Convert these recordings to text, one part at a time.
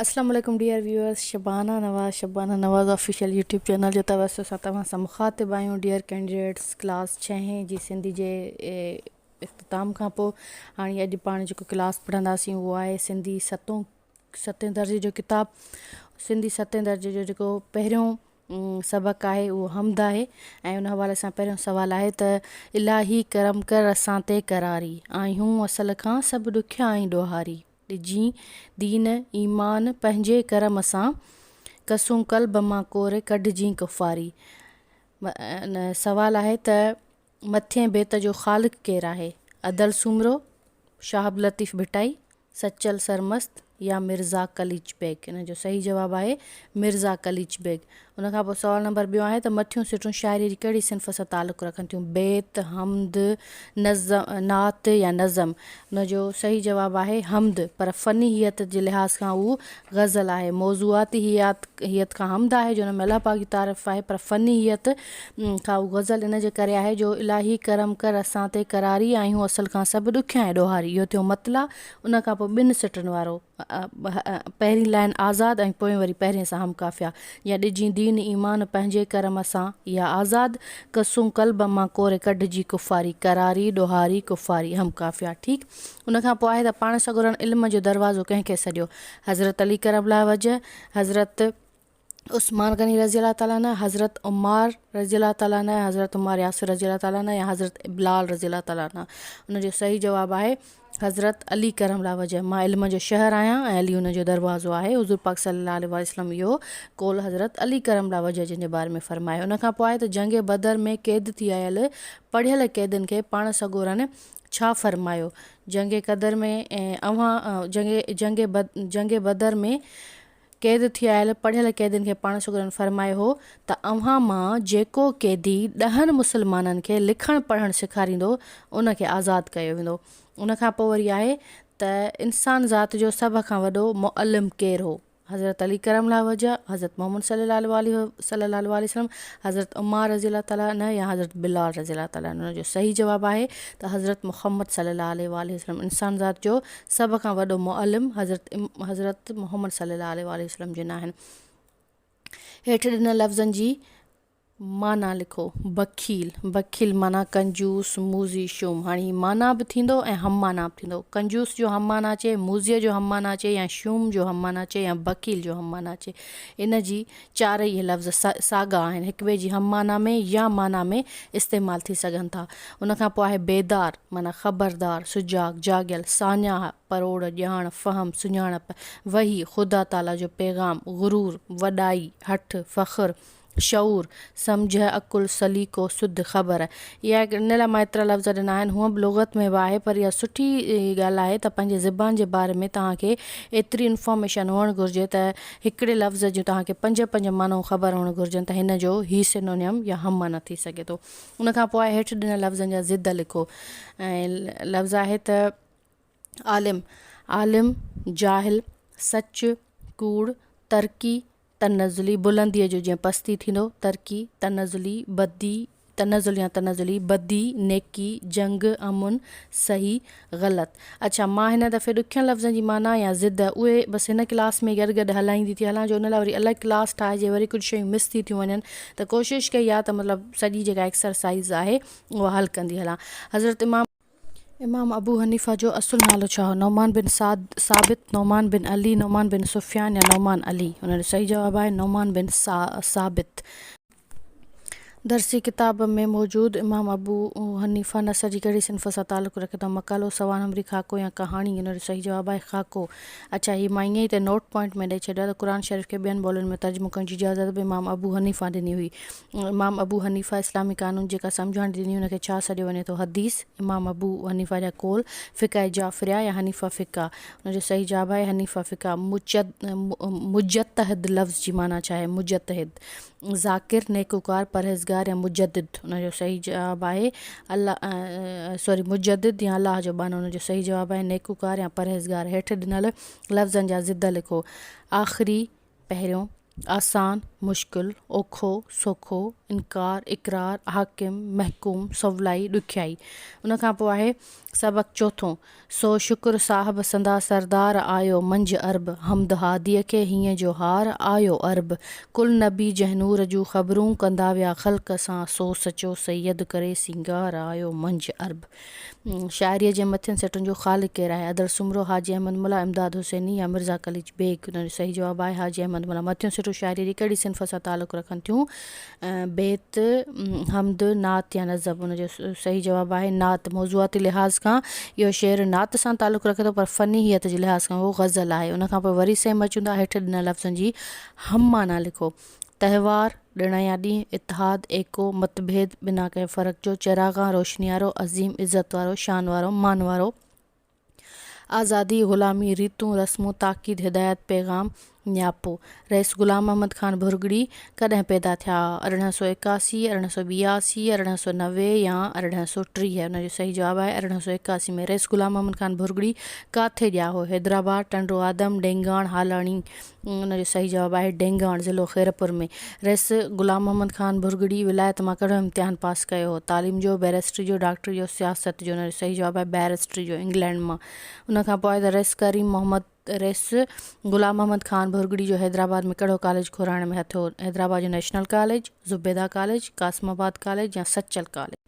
اسلام عليڪم dear viewers Shabana Nawaz Shabana Nawaz official YouTube channel جو توسط سان توهان سان مخاطب آهيون ڊيئر ڪينڊيڊيٽس ڪلاس ڇهين جي سنڌي جي اختتام کان پوء هاڻي اڄ پاڻ جيڪو ڪلاس پڙهنداسين اهو آهي سنڌي ستون ستين درجي جو ڪتاب سنڌي ستين درجي جو جيڪو پهريون سبق آهي اهو حمد آهي ۽ ان حوالي سان پهريون سوال آهي ته الاهي کرم کر اسان تي قراري آهيون اصل کان سڀ ڏکيا آهي ڏوهاري ڏجي دين ايمان پنهنجي ڪرم سان. ڪسون قلب مان ڪوري ڪڍجي ڪفاري. سوال آهي ته مٿين بيت جو خالق ڪير آهي؟ ادل سومرو، شهاب لطيف ڀٽائي، سچل سرمست يا مرزا قليچ بيگ؟ ان جو صحيح جواب آهي مرزا قليچ بيگ. ان کان پوء سوال نمبر ٻيون آهي ته مٿيون سٽون شاعريء جي ڪهڙي صنف سان تعلق رکن ٿيون، بيت، حمد، نظم، نعت يا نظم؟ ان جو صحيح جواب آهي حمد، پر فني هيئت جي لحاظ کان اهو غزل آهي. موضوعاتي هيئت کان حمد آهي جو ان ۾ الله پاڪ جي تعرف آهي، پر فني هيئت کان اهو غزل ان جي ڪري آهي جو الاهي ڪرم ڪر اسان تي قراري آهيون اصل کان سڀ ڏکيائين ڏوهاري. اهو ٿيو مطلع، ان کان پوء ٻن سٽن وارو. پهرين لائن آزاد ۽ پوئين وري پهرين سان هم قافيه. يا ڏجين دين ايمان پنهنجي ڪرم سان يا آزاد قصون قلب مان ڪوري ڪڍجي ڪفاري قراري ڏوهاري ڪفاري هم قافيه ٺيڪ ان کان پوء آهي ته پاڻ سڳورن علم جو دروازو ڪنهن کي سڏيو حضرت علي ڪرم الله وجه حضرت عثمان غني رضي الله تعالٰي عنه، حضرت عمار رضي الله تعالٰي عنه ۽ حضرت عمار ياسر رضي الله تعالٰي عنه يا حضرت بلال رضي الله تعالٰي عنه ان جو صحيح جواب آهي حضرت علي ڪرم الله وجه مان علم جو شهر آهيان ۽ علي ان جو دروازو آهي حضور پاڪ صلي الله عليه واٰله وسلم اهو قول حضرت علي ڪرم الله وجه جن جي باري ۾ فرمايو ان کان پوء آهي ته جنگ بدر ۾ قيد ٿي آيل پڙهيل قيدين کي پاڻ سڳورن ڇا فرمايو جنگ قدر ۾ اوهان جنگ جنگ جنگ بدر ۾ قيد ٿيل پڙهيل قيدين کي پاڻ شگردن فرمايو هو ته اوهان مان جيڪو قيدي ڏهن مسلمانن کي لکڻ پڙهڻ سيکاريندو ان کي آزاد ڪيو ويندو. ان کان پوء وري آهي ته انسان ذات جو سڀ کان وڏو معلم ڪير هو؟ حضرت علي ڪرم الله وجهه، حضرت محمد صلي الله عليه صلي الله عليه وسلم، حضرت عمار رضي الله تعالٰي عنه يا حضرت بلال رضي الله تعالٰي عنه جو صحيح جواب آهي ته حضرت محمد صلي الله عليه وآله وسلم انسان ذات جو سڀ کان وڏو معلم حضرت حضرت محمد صلي الله عليه واٰله وسلم جن آهن. هيٺ ڏنل لفظن جي معنيٰ لکو. بخيل، بخيل معنيٰ ڪنجوس، موذي، شوم. هاڻي هي معنيٰ به ٿيندو ۽ هم معنيٰ به ٿيندو. ڪنجوس جو هم معنيٰ اچي، موذيء جو هم معنيٰ اچي يا شوم جو هم معنيٰ اچي يا بخيل جو هم معنيٰ اچي. ان جي چارئي لفظ ساڳا آهن، هڪٻئي جي هم معنيٰ ۾ يا معنيٰ ۾ استعمال ٿي سگهن ٿا. ان کان پوء آهي بيدار، معنيٰ خبردار، سجاڳ، جاڳيل، ساڃاهه، پروڙ، ڄاڻ، فهم، سڃاڻپ، وحي، خدا تعاليٰ جو پيغام، غرور، وڏائي، هٺ، فخر، شعور، سمجهه، عقل، سليقو، سڌ، خبر. اها هڪ ان لاء مان ايترا لفظ ڏنا آهن، هونء به لغت ۾ به آهي، پر اها سٺي ڳالهه آهي ته پنهنجي زبان جي باري ۾ توهان کي ايتري انفارميشن هئڻ گهرجي ته هڪڙي لفظ جون توهان کي پنج پنج معنون خبر هئڻ گهرجن ته هن جو هي سينونيم يا هم معنيٰ ٿي سگهي ٿو. ان کان پوء هيٺ ڏنل لفظن جا ضد لکو. ۽ لفظ آهي ته عالم، عالم، جاهل، سچ، ڪوڙ، ترقي، تنزلي، بلنديء جو جئين پستي ٿيندو، ترقي، تنزلي، بدي، تنزل يا تنزلي، بدي، نيڪي، جنگ، امن، صحيح، غلط. اڇا مان هن دفعي ڏکين لفظن جي معنيٰ يا ضد اهي بس هن ڪلاس ۾ گڏ گڏ هلائيندي ٿي هلان جو ان لاء وري الڳ ڪلاس ٺاهجي وري ڪجهه شيون مس ٿي ٿيون وڃن ته ڪوشش ڪئي آهي ته مطلب سڄي جيڪا ايڪسرسائيز آهي اها حل ڪندي هلان حضرت امام امام ابو حنيفه جو اصل نالو ڇا هو؟ نعمان بن سعد، ثابت، نعمان بن علي، نعمان بن سفيان يا نعمان علي؟ ان جو صحيح جواب آهي نعمان بن ثابت. درسي ڪتاب ۾ موجود امام ابو حنيفه نثر جي ڪهڙي صنف سان تعلق رکي ٿو؟ مقالو، سوانح نمري، خاڪو يا ڪهاڻي؟ ان جو صحيح جواب آهي خاڪو. اڇا هي مان ائين ئي تي نوٽ پوائنٽ ۾ ڏئي ڇڏيو آهي ته قرآن شريف کي ٻين ٻولين ۾ ترجمو ڪرڻ جي اجازت به امام ابو حنيفه ڏني هئي. امام ابو حنيفه اسلامي قانون جيڪا سمجهاڻي ڏني ان کي ڇا سڏيو وڃي ٿو؟ حديث، امام ابو حنيفه جا قول، فقه جعفريه يا حنيفه فقه، ان جو صحيح جواب آهي حنيفه فقه، مجتهد لفظ جي معنيٰ ڇا آهي؟ مجتهد، ذاڪر، نيڪوڪار، پرهيزگار يا مجدد، ان جو صحيح جواب آهي Sorry، مجدد يا الله جو ٻانهو، ان جو صحيح جواب آهي نيڪوڪار يا پرهيزگار، هيٺ ڏنل لفظن جا ضد لکو، آخري، پهريون، آسان، مشڪل، اوکو، سوکو، انڪار، اقرار، حاڪم، محڪوم، سولائي، ڏکيائي. ان کان پوء آهي سبق چوٿون، سو شڪر صاحب سندا سردار آيو منجهه عرب، حمد هاديء کي هينء جو هار آيو عرب، ڪل نبي جنهن نور جون خبرون ڪندا ويا خلق سان، سو سچو سيد ڪري سينگار آيو منجهه عرب. شاعريء جي مٿين سٽن جو خالق ڪير آهي؟ ادل سومرو، حاجي احمد ملاح، امداد حسيني يا مرزا قليچ بيگ؟ ان جو صحيح جواب آهي حاجي احمد ملاح. مٿيون سٽون شاعريء جي ڪهڙي صنف سان تعلق رکن ٿيون؟ بيت، حمد، نعت يا نظم؟ ان جو صحيح جواب آهي نعت. موضوعاتي لحاظ کان اهو شعر نعت سان تعلق رکي ٿو پر فنيحيت جي لحاظ کان اهو غزل آهي. ان کان پوء وري سيم اچون ٿا هيٺ ڏنل لفظن جي هم معنيٰ لکو. تهوار، ڏڻ يا ڏينهن، اتحاد، ايڪو، متڀيد، بنا ڪنهن فرق جو، چراغان، روشني وارو، عظيم، عزت وارو، شان وارو، مان وارو، آزادي، غلامي، ريتون، رسمون، تاڪيد، هدايت، پيغام، نياپو. رئيس غلام محمد خان ڀرڳڙي ڪڏهن پيدا ٿيا ها؟ ارڙهن سؤ ايڪاسي، ارڙهن سؤ ٻياسي، ارڙهن سؤ نوي يا ارڙهن سؤ ٽيهه؟ ان جو صحيح جواب آهي ارڙهن سؤ ايڪاسي ۾ رئيس غلام محمد خان ڀرڳڙي ڪاٿي ڄاهو، حيدرآباد، ٽنڊو آدم، ڊينگاڻ، هالاڻي، ان جو صحيح جواب آهي ڊينگهواڻ ضلعو خيرپور ۾ رئيس غلام محمد خان ڀرڳڙي ولايت مان ڪهڙو امتحان پاس ڪيو هو تعليم جو بئريسٽري جو ڊاڪٽري جو سياست جو ان جو صحيح جواب آهي بئريسٽري جو انگلينڊ مان ان کان پوء ته رئيس ڪريم محمد رئيس غلام محمد خان ڀرڳڙي جو حيدرآباد ۾ ڪهڙو ڪاليج کورائڻ ۾ هٿ هو حيدرآباد جو national college Zubeda college Qasimabad college يا سچل ڪاليج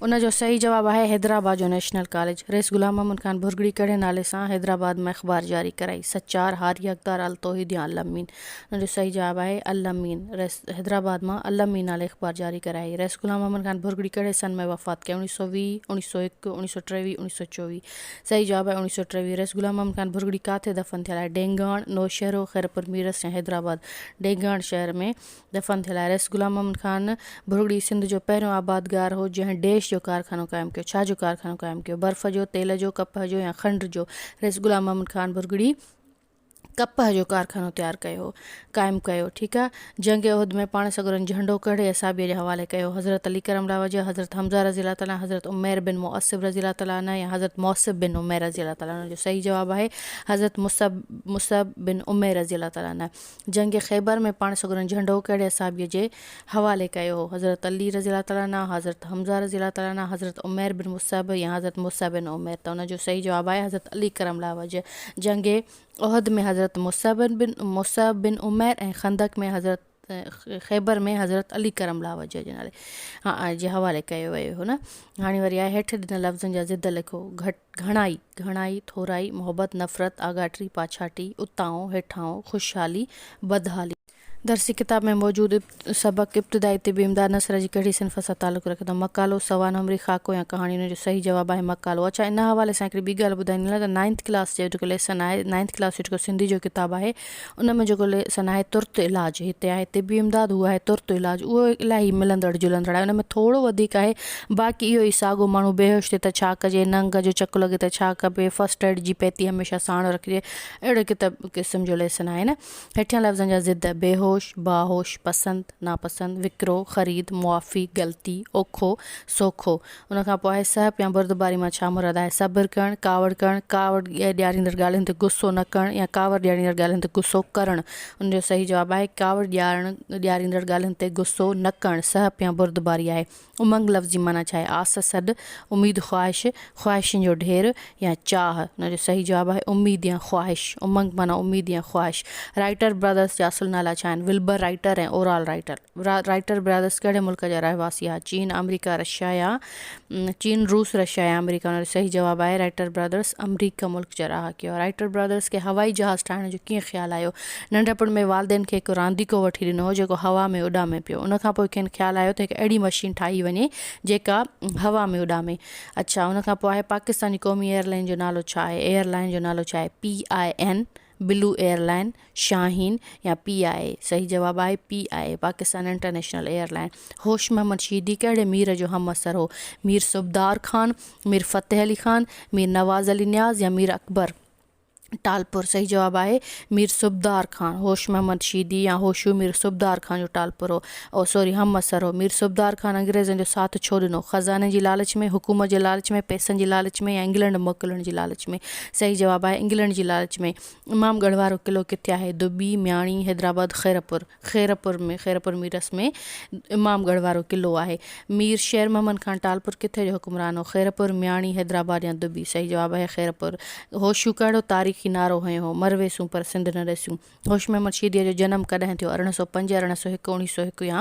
ان جو صحيح جواب آهي حيدرآباد جو نيشنل ڪاليج. رئيس غلام محمد خان ڀرڳڙي ڪهڙي نالي سان حيدرآباد مان اخبار جاري ڪرائي؟ سچار، هاري حقدار، التوحيد يا الامين؟ ان جو صحيح جواب آهي الامين. رئيس حيدرآباد مان الامين نالي اخبار جاري ڪرائي. رئيس غلام محمد خان ڀرڳڙي ڪهڙي سن ۾ وفات ڪئي؟ اوڻيھ سؤ ويهه، اوڻيھ سؤ هڪ، اوڻيھ سؤ ٽيويهه، اوڻيھ سؤ چوويهه؟ صحيح جواب آهي اوڻيھ سؤ ٽيويهه. رئيس غلام محمد خان ڀرڳڙي ڪاٿي دفن ٿيل آهي؟ ڊينگهاڻ، نوشهرو، خيرپور ميرس يا حيدرآباد؟ ڊينگهاڻ شهر ۾ دفن ٿيل آهي. رئيس غلام محمد خان ڀرڳڙي سنڌ جو پهريون آبادگار هو، جنهن ڊيش جو ڪارخانو قائم ڪيو. ڇا جو ڪارخانو قائم ڪيو؟ برف جو، تيل جو، ڪپهه جو يا کنڊ جو؟ رئيس غلام محمد خان ڀرڳڙي ڪپهه جو ڪارخانو تيار ڪيو، قائم ڪيو، ٺيڪ آ. جنهن کي عهد ۾ پاڻ سڳورن جهنڊو ڪهڙي اصحابيء جي حوالي ڪيو؟ حضرت علي ڪرم الله وجهه، حضرت حمزه رضي الله تعالٰي عنه، حضرت عمير بن معصب رضي الله تعالٰي عنه يا حضرت موصب بن عمير رضي الله تعالٰي عنه جو صحيح جواب آهي، حضرت مصعب، مصعب، بن عمير رضي الله تعالٰي عنه. جنگ خيبر ۾ پاڻ سڳورن جهنڊو ڪهڙي اصحابي جي حوالي ڪيو هو؟ حضرت علي رضي الله تعالٰي عنه، حضرت حمزه رضي الله تعالٰي عنه، حضرت عمير بن مصعب يا حضرت مصعب بن عمير؟ ته ان جو صحيح جواب آهي حضرت علي ڪرم الله وجهه. جنگ احد ۾ حضرت مصعب بن مصعب بن عمير ۽ خندق ۾ حضرت خيبر ۾ حضرت علي ڪرم الله وجهه جي نالي جي حوالي ڪيو ويو هو نه هاڻي وري آهي هيٺ ڏنل لفظن جا ضد لکو گهٽ گهڻائي، گهڻائي، ٿورائي، محبت، نفرت، آڳاٽي، پاڇاٽي، اتانهون، هيٺانهون، خوشحالي، بدحالي. درسي ڪتاب ۾ موجود سبق ابتدائي طب امداد نثر جي ڪهڙي صنف سان تعلق رکي ٿو؟ مقالو، سوال نمبري، خاڪو يا ڪهاڻي ان جو صحيح جواب آهي مقالو. اڇا ان حوالي سان هڪڙي ٻي ڳالهه ٻڌائيندين لاء ته نائنٿ ڪلاس جو جيڪو ليسن آهي نائنٿ ڪلاس جو جيڪو سنڌي جو ڪتاب آهي ان ۾ جيڪو ليسن آهي ترت علاج هتي آهي طبي امداد هو آهي ترت علاج اهو الاهي ملندڙ جلندڙ آهي ان ۾ ٿورو وڌيڪ آهي باقي اهو ئي ساڳو ماڻهو بيهوش ٿئي ته ڇا ڪجي ننگ جو چڪ لڳي ته ڇا ڪبي فسٽ ايڊ جي پيتي هميشه ساڻ رکجي اهڙي ڪتاب قسم جو ليسن آهي نه هيٺيان لفظن جا ضد بيهوش باهوش پسند ناپسند وڪرو خريد معافي غلطي اوکو سوکو ان کان پوء سهپ يا بردباري مان ڇا مراد آهي؟ صبر ڪرڻ، ڪاوڙ ڪرڻ، ڪاوڙ ڏياريندڙ ڳالهين تي غصو نه ڪرڻ يا ڪاوڙ ڏياريندڙ ڳالهين تي غصو ڪرڻ؟ ان جو صحيح جواب آهي، ڪاوڙ ڏيارڻ، ڏياريندڙ ڳالهين تي غصو نه ڪرڻ سهپ يا بردباري آهي. امنگ لفظ جي معنيٰ ڇا آهي؟ آس، سڏ، اميد، خواهش، خواهشن جو ڍير يا چاهه. ان جو صحيح جواب آهي، اميد يا خواهش. امنگ معنيٰ اميد يا خواهش. رائيٽر براڌرز جا اصل نالا ڇا آهن؟ Wilbur Wright ۽ Orville Wright. Wright brothers ڪهڙي ملڪ جا رهواسي ها چين آمريڪا رشيا يا چين روس رشيا يا آمريڪا ان جو صحيح جواب آهي رائٽر برادرس آمريڪا ملڪ جا رهاڪي هئا رائٽر برادرس کي هوائي جهاز ٺاهڻ جو ڪيئن خيال آيو ننڍپڻ ۾ والدين کي هڪ رانديڪو وٺي ڏنو هو جيڪو هوا ۾ اڏامي پيو ان کان پوء کين خيال آيو ته هڪ اهڙي مشين ٺاهي وڃي جيڪا هوا ۾ اڏامي اڇا ان کان پوء آهي پاڪستاني قومي ايئرلائين جو نالو ڇا آهي ايئرلائين جو نالو ڇا آهي P I N blue airline, Shaheen يا پي آء اي؟ صحيح جواب آهي P I A, Pakistan international airline. Hosh Muhammad شهيدي ڪهڙي مير جو همعصر هو؟ مير صوبدار خان، مير فتح علي خان، مير نواز علي نياز يا مير اڪبر ٽالپر؟ صحيح جواب آهي مير صوبدار خان. هوش محمد شهيدي يا هوشو مير صوبدار خان جو ٽالپر هو او سوري همعصر هو. مير صوبدار خان انگريزن جو ساٿ ڇو ڏنو؟ خزاني جي لالچ ۾، حڪومت جي لالچ ۾، پئسن جي لالچ ۾، يا انگلنڊ موڪلڻ جي لالچ ۾؟ صحيح جواب آهي انگلنڊ جي لالچ ۾. امام ڳڙهه وارو قلعو ڪٿي آهي؟ دٻي، مياڻي، حيدرآباد، خيرپور. خيرپور ۾ خيرپور ميرس ۾ امام ڳڙهه وارو قلعو آهي. مير شير محمد خان ٽالپور ڪٿي جو حڪمران هو؟ خيرپور، مياڻي، حيدرآباد يا دٻي. صحيح جواب آهي خيرپور. هوشيو ڪهڙو تاريخي نعرو هنيو هو؟ مرويسون پر سنڌ نه ڏسيون. هوش محمد شيديء جو جنم ڪڏهن ٿيو؟ ارڙهن سؤ پنج، ارڙهن سؤ هڪ، اڻيهه سؤ هڪ يا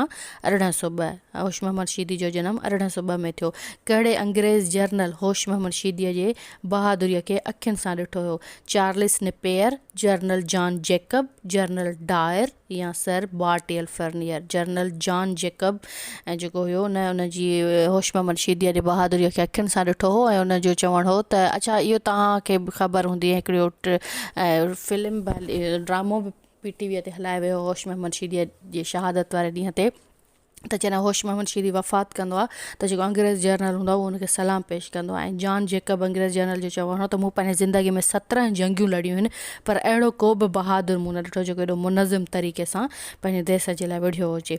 ارڙهن سؤ ٻه؟ هوش محمد شيدي جو جنم ارڙهن سؤ ٻه ۾ ٿيو. ڪهڙي انگريز جرنل هوش محمد شيديء جي بهادريء کي اکين سان ڏٺو هيو؟ Charles Napier, general John Jacob, general Dyer يا سر بارٽيل فرنيئر؟ جرنل جان جيڪب ۽ جيڪو هيو ان ان جي هوش محمد شيديء جي بهادريء کي اکين سان ڏٺو هو ۽ ان جو چوڻ هو ته اڇا اهو توهان کي به خبر هوندي ۽ هڪڙو فلم به ڊرامو به پي ٽي ويء تي هلايو ويو هو هوش محمد شيديء جي شهادت واري ڏينهن تي ته جڏهن هوش محمد شيدي وفات ڪندو آهي ته جيڪو انگريز جرنل هوندو آهي اهو ان کي سلام پيش ڪندو آهي ۽ جان جيڪب انگريز جرنل جو چوڻ هو ته مون پنهنجي زندگيء ۾ سترهن جنگيون لڙيون آهن پر اهڙو ڪو به بهادر مون نه ڏٺو جيڪو ايڏو منظم طريقي سان پنهنجي ديس جي لاء وڙهيو هجي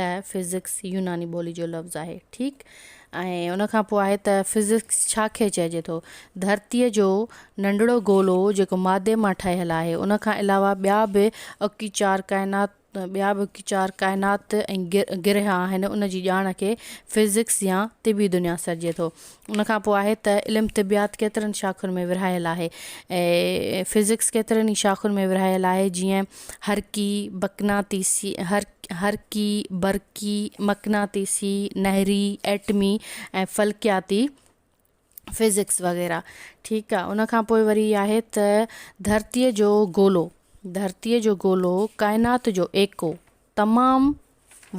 ته فزڪس يوناني ٻولي جو لفظ آهي ٺيڪ ۽ ان کان پوء آهي ته فزڪس ڇا کي چئجي ٿو؟ ڌرتيء جو ننڍڙو گولو جيڪو مادي مان ٺهيل آهي ان کان علاوه ٻيا به اڪي چار ڪائنات ٻيا به اڪي چار ڪائنات ۽ گرهه آهن ان جي ڄاڻ کي فزڪس يا طبي دنيا سڏجي ٿو ان کان پوء آهي ته علم طبعيات ڪيترن شاخن ۾ ورهايل آهي ۽ فزڪس ڪيترن ئي شاخن ۾ ورهايل آهي جيئن حرڪي، بقناطيسي، حرڪي، برقي، مقناطيسي، نهري، ايٽمي ۽ فلڪياتي فزڪس وغيره ٺيڪ آ ان کان پوء وري آهي ته ڌرتي جو گولو، ڌرتي جو گولو ڪائنات جو ايڪو، تمام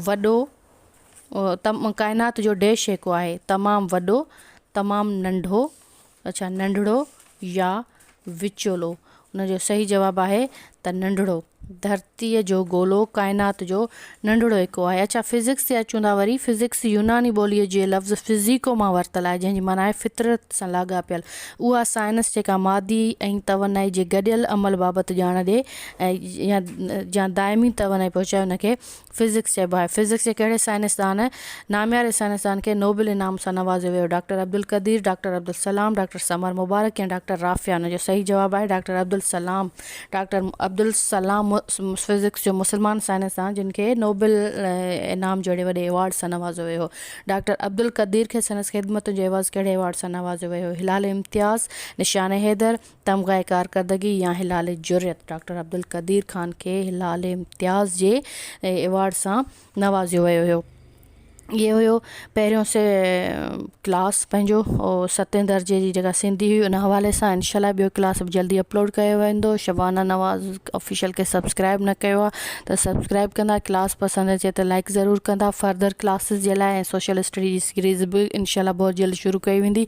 وڏو ڪائنات جو ڊيش جيڪو آهي تمام وڏو تمام ننڍو اڇا ننڍڙو يا وچولو ان جو صحيح جواب آهي ته ننڍڙو ڌرتي جو گولو ڪائنات جو ننڍڙو هڪو آهي اڇا فزڪس جي اچون ٿا وري فزڪس يوناني ٻولي جي لفظ فزيڪو مان ورتل آهي جنهن جي معنيٰ آهي فطرت سان لاڳاپيل اها سائنس جيڪا مادي ۽ توانائي جي گڏيل عمل بابت ڄاڻ ڏي يا دائمي توانائي پهچائي ان کي فزڪس چئبو آهي. فزڪس جي ڪهڙي سائنسدان؟ نامياري سائنسدان کي نوبل انعام سان نوازيو ويو، doctor Abdul Qadeer, doctor Abdus Salam, doctor Samar Mubarak يا ڊاڪٽر رافيا؟ ان جو صحيح جواب آهي doctor Abdus Salam. Doctor Abdus Salam physics جو مسلمان سائنسدان جن کي نوبل انعام جهڙي وڏي ايوارڊ سان نوازيو ويو هو. ڊاڪٽر عبدالقدير کي سندس خدمتن جو عيوض ڪهڙي ايوارڊ سان نوازيو ويو هو؟ هلال امتياز، نشان حيدر، تمغه ڪارڪردگي يا هلال جرئت ڊاڪٽر عبدالقدير خان کي هلال امتياز جي ايوارڊ سان نوازيو ويو هيو اهي هيو پهريون سي ڪلاس پنهنجو ستين درجي جي جيڪا سنڌي هئي ان حوالي سان انشاء الله ٻيو ڪلاس به جلدي اپلوڊ ڪيو ويندو شبانه نواز آفيشل کي سبسڪرائب نه ڪيو آ ته سبسڪرائب ڪندا ڪلاس پسند اچي ته لائڪ ضرور ڪندا فردر ڪلاسز جي لاء سوشل اسٽڊي جي سيريز به انشاء الله بهت جلد شروع ڪئي ويندي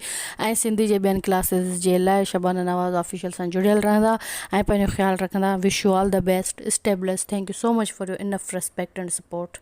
۽ سنڌي جي ٻين ڪلاسز جي لاء شبانه نواز آفيشل سان جڙيل رهندا ۽ پنهنجو خيال رکندا wish you all the best stay blessed thank you so much for your enough respect and support.